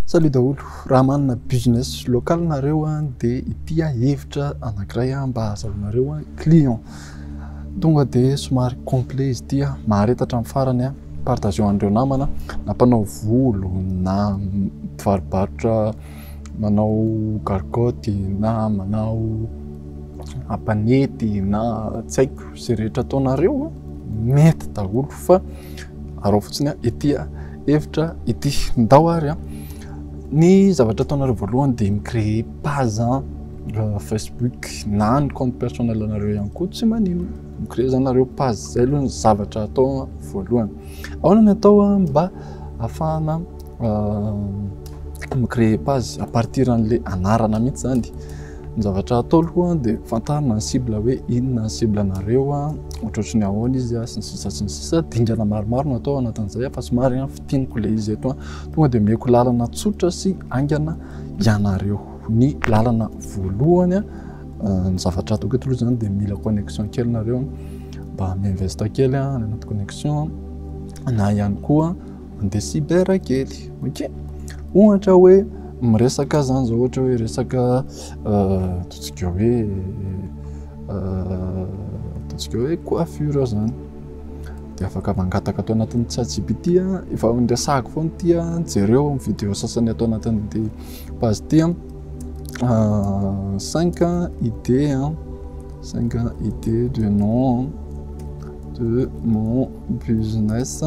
Salut daholo, raha manana business local nareo dia ity hevitra anankiray mba azahoanareo client. Tonga dia somary complet izy ity, mahareta hatramin'ny farany, partageo an'ireo namana na mpanao volo na mpivaro-barotra manao gargotte na manao apanety na tsy haiko izay rehetra ataonareo mety daholo fa araho fotsiny ity. hevitra ity. Ndao ary an! Ny zavatra ataonareo voalohany dia mi-créer page euh, Facebook na ny compte personnel anareo ihany koa tsy maninona. Mi-créer zany nareo page, zay aloha ny zavatra atao voalohany. Ahoana ny atao an, mba ahafahana euh, mi-créer page à partir an'le anarana mihitsy zany. Ny zavatra hatao aloha dia fantarina ny cible hoe inona ny cible anareo, ohatratry ny ahoana izy sy ny sisa sy ny sisa. Dingana maromaro no atao anatin'izay fa somary fintiniko ilay izy eto. Tonga dia omeko lalana tsotra sy haingana ianareo. Ny lalana voalohany, ny zavatra ataoko eto aloha izany dia mila connexion kely nareo mba mi-invest kely any anaty connexion na ihany koa. Mandeha cyber kely, ok? Ohatra hoe miresaka zany zao ohatra hoe resaka ataontsika hoe ataontsika hoe coiffure zany de afaka mangataka ato anatin'ny ChatGPT efa niresahako foana ity jereo ny vidéo sasany ato anatin'ity page ity cinq idées cinq idées de nom de mon Business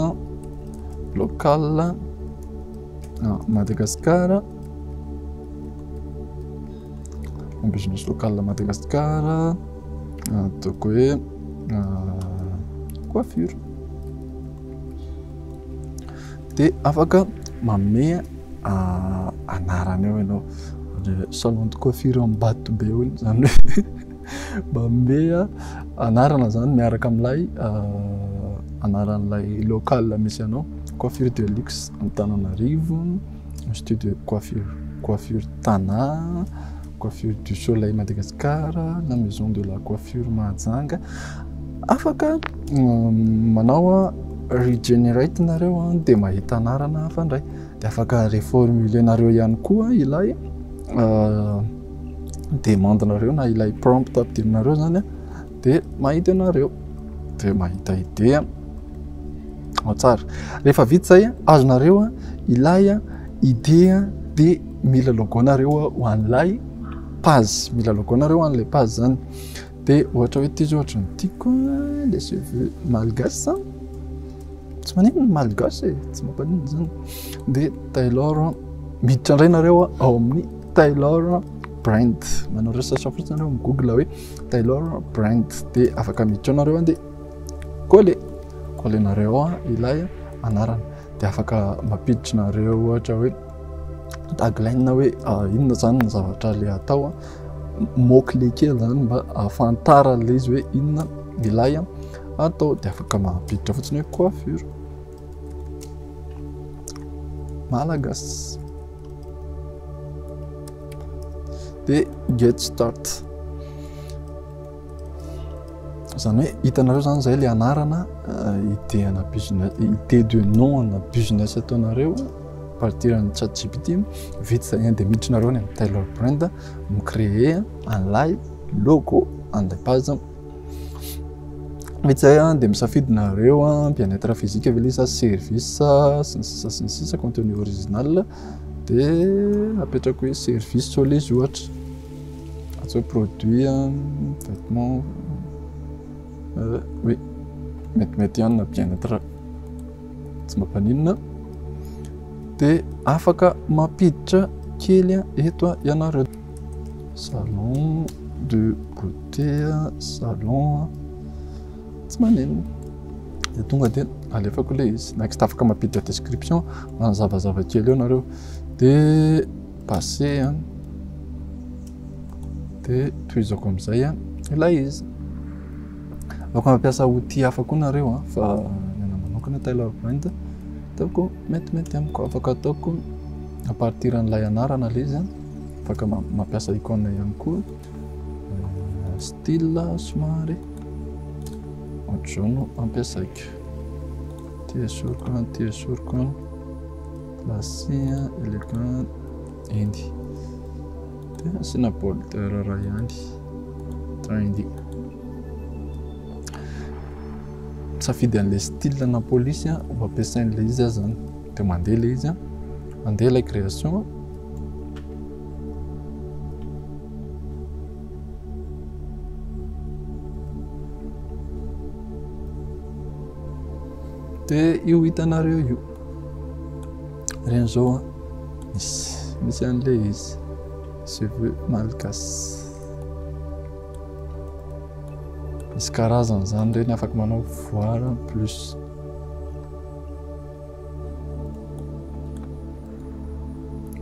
local Madagascar, business local Madagascar, ataoko hoe coiffure. Dia afaka manome anarana eo ianao, salon de coiffure Ambatobe hoy izy izany hoe. Manome anarana izany miaraka amin'ilay anaran'ilay local misy anao, coiffure de luxe Antananarivo, institut de coiffure, coiffure Tana, coiffure du soleil Madagascar, na maison de la coiffure Mahajanga. Afaka manao regenerate nareo dia mahita anarana hafa indray. Dia afaka reformuler-nareo ihany koa ilay demande nareo na ilay prompt ampidirinareo zany de mahita anareo de mahita idée ao tsara rehefa vita zay azonareo ilay idée de mila logo nareo ho an'ilay page mila logo nareo ho an'ilay page zany de ohatra hoe ty zao ohatra ny tiako le cheveux malgache tsy maninona malgache e tsy mampaninona zany de tailor miditra indray nareo ao amin'ny Taylor Brand. Manao recherche fotsiny anao amin'ny Google hoe Taylor Brand dia afaka miditra anareo dia coller collenareo ilay anarana dia afaka mampiditra nareo ohatra hoe tagline hoe ah, inona zany ny zavatra le atao mot clé kely zany mba ahafantaran'ilay izy hoe inona ilay atao dia afaka mampiditra fotsiny hoe coiffure Malagas. Dia get start. Izany hoe hitanareo izany izay ilay anarana eh, idée ana business, idée de nom ana business ataonareo partir an'ny chat GPT vita izay dia miditrinareo any amin'ny Taylor Brand mi-créer an'ilay logo an'ilay base Izay an, dia misafidy nareo an, bien être physique ve le sa service sy ny sisa sy ny sisa contenu original dia apetrako hoe service tsao le izy ohatra atsy hoe produit an, vêtement euh, oui metimety ihany na bien être tsy mba mpaninona dia afaka mampiditra kely eto ianareo Salon de beauté, salon, tsy maninona, dia tonga dia alefako ilay izy. Next afaka mampiditra description manazavazava kely eo nareo. Dia passé an, dia tohizako amin'izay an ilay izy. Afaka mampiasa outil hafa koa nareo an, fa ny anah manokana Taylor Brand ataoko metimety amiko, afaka ataoko à partir an'ilay anarana ilay izy an. afaka mampiasa icône ihany koa style somary ohatr'izao no ampiasaiko ty esoriko an ty esoriko an lasy an eleka endy dia asiana border raha ihany trendy safidy an'ilay style na police ho ampiasain'ilay izy aza zany dia mandeha ilay izy an, mandeha ilay création an. Dia io hitanareo io, ireny izao an, misy misy an'ilay izy, cheveux malgache. Misy karazany izany ireny afaka manao voile plus.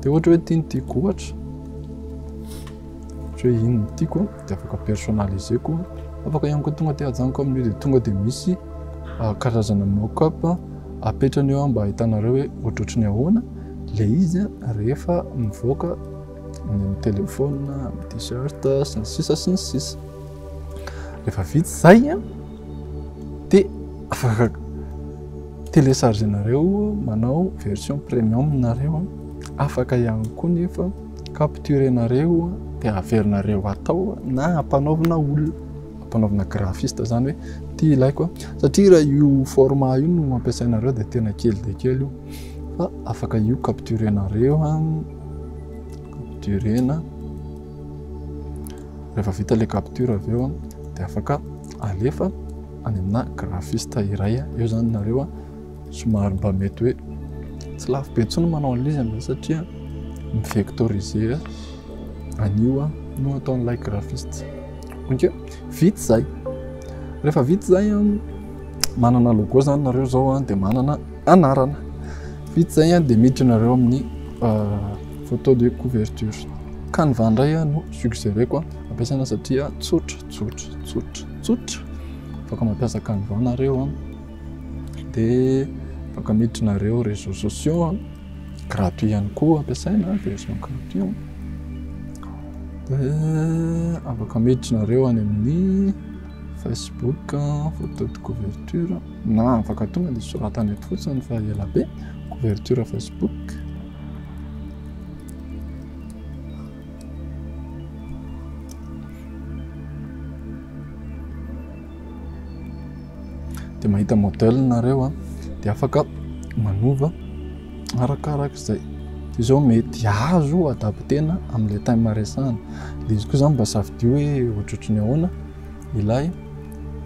Dia ohatra hoe ity no tiako ohatra. Ohatra hoe iny no tiako dia afaka personnaliseko. Afaka ihany koa tonga dia ajanoko amin'io dia tonga dia misy ah, karazana mock-up apetrany eo mba ahitanareo hoe ohatrohatry ny ahoana le izy rehefa mivoaka ny amin'ny téléphone, amin'ny t-shirt sy ny sisa sy ny sisa. Rehefa vita izay an! Te télécharger nareo manao version premium nareo afaka ihany koa nefa capturer nareo dia averinareo atao na ampanaovina olona ampanaovina graphiste zany hoe ty ilaiko satria raha io format io no ampiasainareo dia tena kely dia kely io fa afaka io capturer nareo ha capturer na rehefa vita le capture avy eo dia afaka alefa any amina graphiste iray eo zany nareo a somary mba mety hoe tsy lafo be intsony manao an'izy amin'izay satria mi-vectoriser an'io a no ataon'ilay graphiste ok vita izay rehefa vita izay a manana logo zany nareo izao a dia manana anarana vita izay a dia miditra nareo amin'ny photo de couverture canva indray a no suggéreko a ampiasaina satria tsotra Tsotra, tsotra, tsotra. Afaka mampiasa Canva nareo an. Dia afaka miditra nareo réseaux sociaux an. Gratuit ihany koa ampiasaina, version gratuit an. Dia afaka miditra nareo any amin'ny Facebook, photo de couverture. Na afaka tonga dia soratana eto fotsiny fa ela be. Couverture Facebook. dia mahita modèle nareo a dia afaka manova arakaraka izay dia izao mety azo adaptena amin'ilay time maresana dia izy koa izany mba safidio hoe ohatrohatry ny ahoana ilay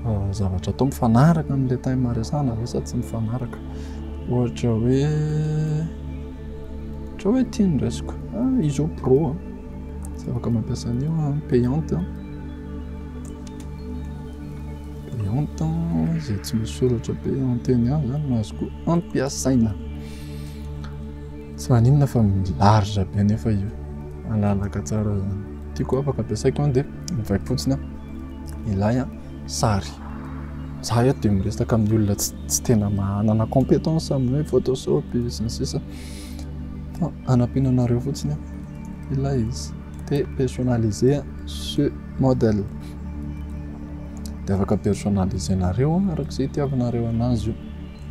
euh, zavatra atao mifanaraka amin'ilay time maresana ve sa tsy mifanaraka ohatra hoe Ohatry hoe tia ny raisiko. Ah, izy izao pro a. Tsy afaka mampiasa an'io a, payante a. Payante a, izay tsy misy soratra payante eny aho izany no azoko ampiasaina. Tsy maninona fa milarge be nefa io. Malalaka tsara izany. Tiako afaka ampiasaiko an dia mivaipy fotsiny a. Ilay a. sary. Za eto dia miresaka amin'ny olona tsy tena manana compétence amin'ny hoe Photoshop sy ny sisa. Fa anampiana anareo fotsiny aho. Ilay izy. Dia personnaliser ce modèle. Dia afaka personnaliser nareo araka izay itiavanareo anazy io.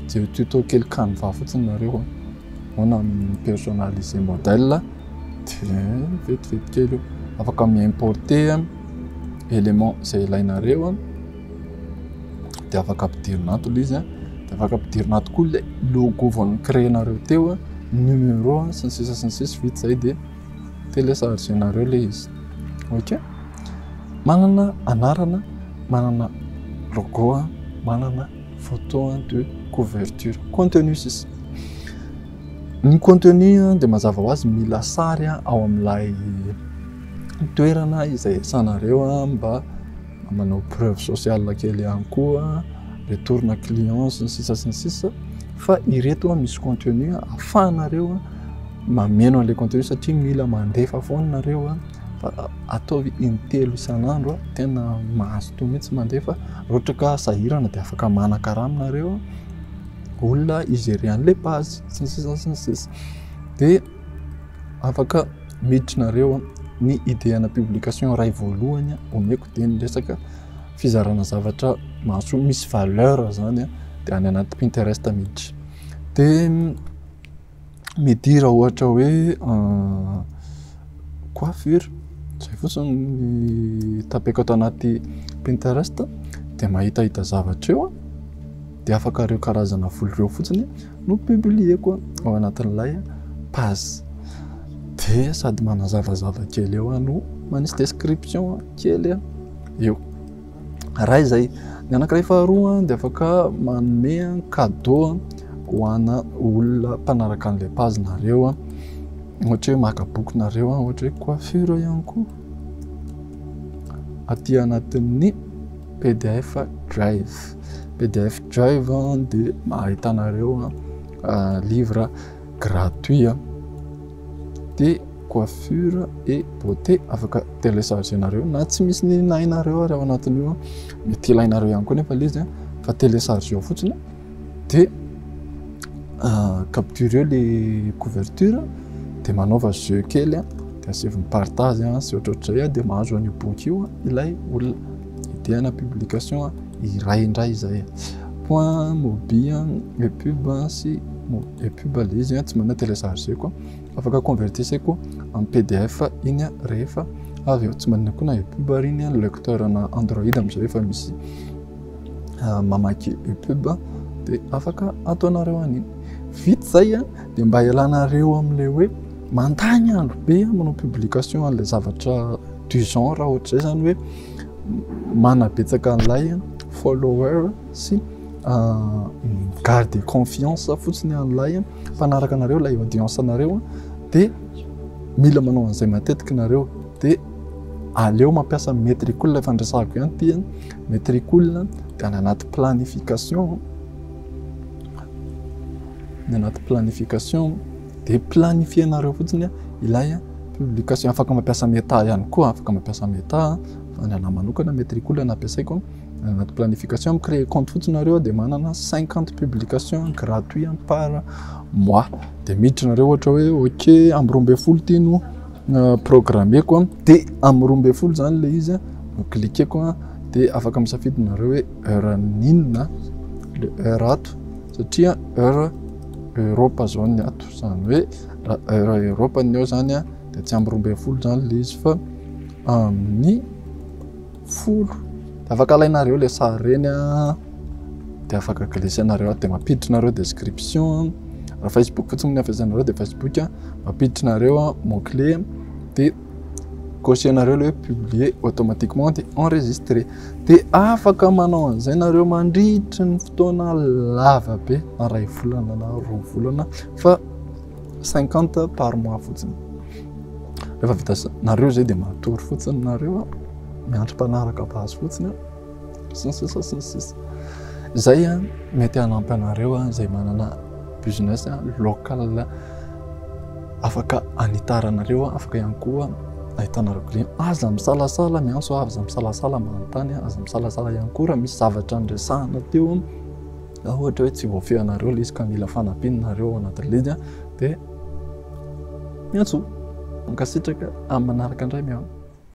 Dia tuto kely canva fotsiny nareo. Ahoana ny mi-personnaliser modèle? Dia vetivety kely io. Afaka mi-importer élément izay ilainareo, dia afaka ampidirina ato ilay izy. Dia afaka ampidirina ato koa ilay logo vao ni-créer-nareo teo, numéro sy ny sisa sy ny sisa. Vita izay dia télécharger-nareo ilay izy. Ok? Manana anarana, manana logo, manana. Photo de couverture, contenu sisa. Ny contenu dia mazava ho azy mila sary ao amin'ilay toerana izay iasanareo mba manao preuve sociale kely ihany koa, retorina client sy ny sisa sy ny sisa fa ireto misy contenu ahafahanareo mameno an'ilay contenu satria mila mandefa foana nareo. fa ataovy intelo isan'andro tena mazotoa mihitsy mandeha fa ohatra ka sahirana dia afaka manakarama nareo olona igerer an'ilay page sy ny sisa sy ny sisa dia afaka miditra nareo ny idée ana publication iray voalohany omeko dia ny resaka fizarana zavatra mahasoa misy valeur zany dia any anaty pinterest miditra dia midira ohatra hoe coiffure, izay fotsiny ny tapeko ato anaty Pinterest dia mahitahita zavatra eo dia afaka ireo karazana volo ireo fotsiny no publieko ao anatin'ilay page dia sady manazavazava kely eo no manisy description kely eo. iray izay. Ny anankiray faharoa dia afaka manome cadeau ho ana olona mpanaraka an'ilay page nareo ohatra hoe maka boky nareo ohatra hoe coiffure ihany koa aty anatin'ny pdf drive pdf drive dia ahitanareo livre gratuit an! de coiffure et beauté afaka télécharger nareo na tsy misy ny nahy nareo ary ao anatin'io an! mety ilainareo ihany koa nefa le izy an! fa télécharger ao fotsiny de capturer le couverture de manaova jeu kely an! de asevy ny partage sy ohatrohatrizay an! de mahazo an'io boky io ilay olona Idéana publication iray indray izay point mobi le pub sy le pub ilay izy tsy manana télécharger koa afaka convertissez koa en pdf iny rehefa avy eo tsy manana koa na pub ary iny lecteur ana android amin'izay efa misy mamaky pub dia afaka ataonareo an'iny vita izay a dia mba hialanareo amin'ilay hoe mandany andro be manao publication an'ilay zavatra du genre ohatr'izay zany hoe manabetsaka an'ilay follower sy garde confiance fotsiny an'ilay mpanaraka anareo ilay audience anareo dia mila manao an'izay matetika nareo dia aleo mampiasa metricool efa andresahako ihany ty an metricool dia any anaty planification ny anaty planification Dia planifier-nareo fotsiny ilay publication. Afaka mampiasa Meta ihany koa, afaka mampiasa Meta fa ny anah manokana Metricool no ampiasaiko. Anaty planification, mi-creer compte fotsiny nareo dia manana cinquante publication gratuit par mois. Dia miditra nareo ohatra hoe ok amin'ny roa ambin'ny folo ity no programmeko dia amin'ny roa ambin'ny folo zany ilay izy no cliqueko dia afaka misafidy nareo hoe heure n'inona le heure ato. satria heure Europe zao ny ato zany hoe raha heure Europe ny eo zany a dia tsy amby roa ambin'ny folo zany le izy fa amin'ny folo dia afaka alainareo le sary reny a dia afaka glissenareo ato dia mampiditrinareo description raha facebook fotsiny ny hafesanareo dia facebook a mampiditrinareo mot clé dia Cocher nareo le hoe publier automatiquement de enregistrer. De afaka manao an'izay nareo mandritry ny fotoana lava be na ray volana na roa volana fa 50 par mois fotsiny. Rehefa vita nareo zay de matory fotsiny nareo miandry mpanaraka base fotsiny. sy ny sisa sy ny sisa izay a mety hanampy anareo a izay manana business local afaka hanitaranareo afaka ihany koa ahitanareo client aza misalasala ny anso aza misalasala manontany aza misalasala ihany koa raha misy zavatra niresahana teo raha ohatra hoe tsy voafehinareo le izy ka mila fanampianareo ao anaty league a dia miantsoa mankasitraka amin'ny manaraka indray miala